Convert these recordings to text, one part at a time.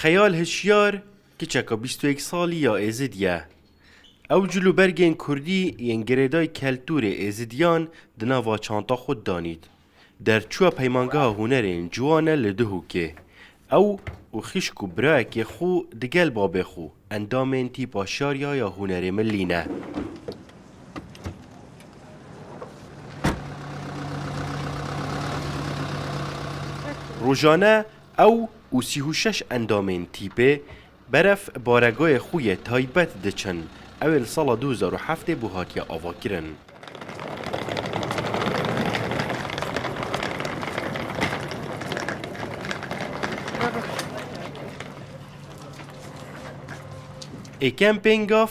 Xeyal Hişyar kiçeka bîst û yek salî ya Êzid ye. Ew cil û bergên kurdî yên girêdayî keltûrê êzidiyan di nava çanta xwe de danît. Derçûya Peymangeha Hunerên Ciwan e li Duhokê. Ew û xîşk û birayekê xwe di gel babê xwe endamên tîpa Şariya ya Hunerê Millî ne. Rojane ew û sî û şeş endamên tîpê Berf baregoyê xwe yê taybet diçin, ew ê li sala du hezar û heftê bû hatiye avakirin. E-Camping of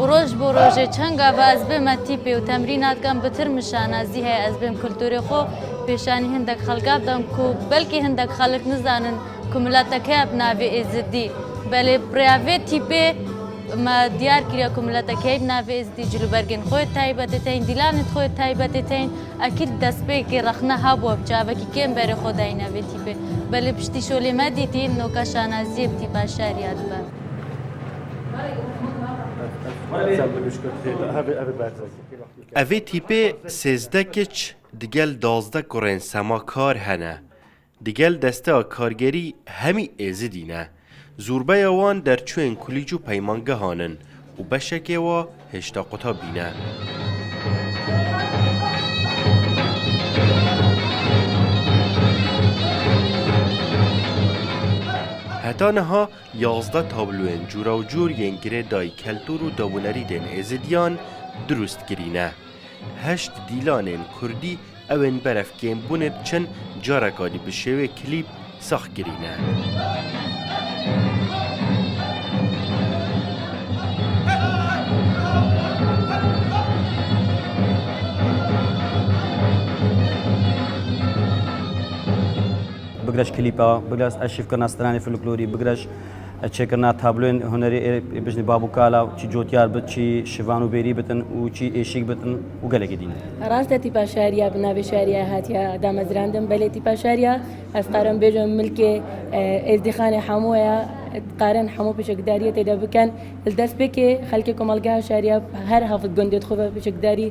Û roj bo rojê çend gava ez bême tîpê û temrîna dikem bi tirmişa na zî heye ez bêm kulturê xo pêşanî hindek xelka bidim ku belkî hindek xelik nizanin ku milete keye bi navê Êzidî belê bi rêya vê tîpê me diyar kiriye ku milete keye bi navê Êzidî cilûbergên xo yê taybetê tên dîlanê xo yê taybetê tên ekîd destpêkê rexne habuwe bi çavekî kêm berê xo dayîne vê tîpê belê piştî şolê me dîtî noka şanazîyê bi tîpa şer ya dibe. Evê tîpê sêzdeh kiç digel dazdeh kurên sema kar hene. Digel desteya kargerî hemî êzidî ne. Zûrbeya wan derçûyên kulîc û peymangehan in û beşekê wa hêşta qutabî ne. Heta niha Yazdeh tabloyên curewcur yên girêdayî keltûr û dewûnerîdên Êzidiyan dirûst kirîne. Heşt dîlanên kurdî ew ên berev kêm bûnê diçin careka dî bi şêwê klîp sax kirîne. Bigire ji klîpa, bigire ji eşîvkirina stranên folklorî, bigire ji çêkirina tabloyên hunerê ê bijnî bab û kala û çî cotyar bit, çî şivan û bêrî bitin û çî êşîg bitin û gelekî dîn. Rast e tîpa şariya bi navê şariya hatiye damezrandin belê tîpa şariya ez dikarim bêjim milkê êzdîxanê hemû ye. Dikarin hemû pêşekdariyê tê de bikin. Li destpêkê xelkê komelgeha şariya her heft gundê dixwe be pêşekdarî.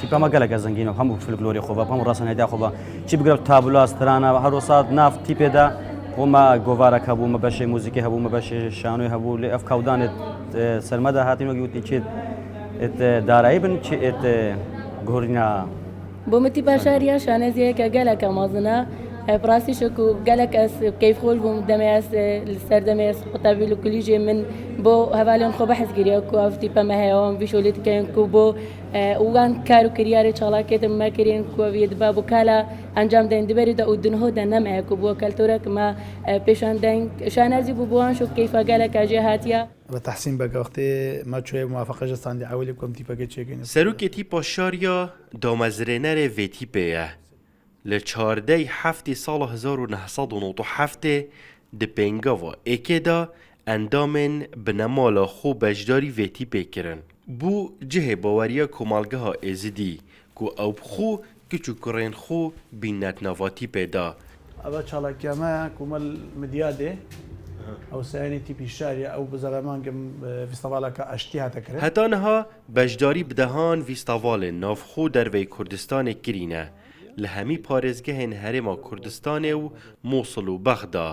Tîpa me gelek ezengîn hemû folklorê xwe hemû rasanêda xwe be. Çi bigire tabula, strana, her rosa nav tîpê de xwe me govarek hebû, me beşê muzîkê hebû, me beşê şanoyê hebû lê ev kewdan et ser me de hatîn wekî witî çêt et darayî bin çi et guhurîna Bo min tî beşariya şaneziyeke geleke mezin e. Ev bi rastî şo ku gelek ez keyfxweş bûm demê ez li ser demê ez qutebî li kulîjê min bo hevalên xwe behs kiriye ku ev tîpe me heye wan vîşo lê dikeyin ku bo wan kar û kiryarê çalakiyê din me kirîn ku ev yê dibe bi kala encam deyin di berî de û di niho de ne me ye ku bo keltorek me pêşan deyin. Şanezî bû bi wan şo keyfa geleke jê hatiye. Li Tehsîn Beg Axtê me çûyê bi muwafeqe ji Sandî Ewilê ku em tîpekê çêkirîne. Serokê Tîpa Şariya Damezrênerê vê tîpê ye. Li çardeyî heftê sala hezar û neh sed û nod û heftê di pêngava êkê de endamên binemala xwe beşdarî vê tîpê kirin. Bû cihê baweriya Komelgeha Êzidî ku ew bi xwe, kiç û kurên xwe bînnet nava tîpê de. Ev çalakiya me ye ku me li Midyadê Hewsayînê tîpî şer ye. Ew bi zeremangên bi fîstevaleke aştî hate kirin. Heta niha Beşdarî bi dehan vîstavalên navxwe û derveyî Kurdistanê kirîne li hemî parêzgehên Herêma Kurdistanê û Mosul û Bexda.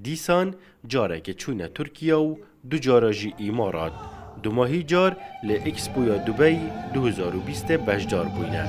Dîsan carekê çûne Tirkiye û du cara jî Îmarat. Dumahî car li Expoya Dubey du hezar û bîstê beşdar bûyne.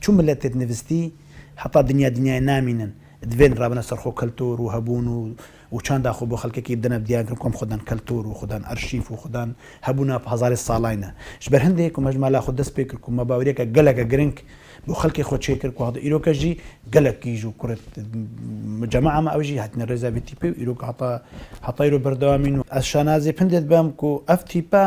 Çu miletê di nivistî heta dinya dinyayê namînin, divên rabine ser xwe keltûr û hebûn û û çanda xwe bo xelkekî bidine diyan kirin kom xwe dan keltûr û xwe dan arşîf û xwe dan hebûna hezarê salan e. Ji ber hindê ku me ji mala xwe dest pê kir ku me baweriyeke geleke giring bo xelkê xwe çê kir ku heta îroke jî gelek kîj û kurê mucema'a me ew jî hatine rêza vê tîpê û îroka heta heta îro berdewam in û ez şanazê hindê dibem ku ev tîpe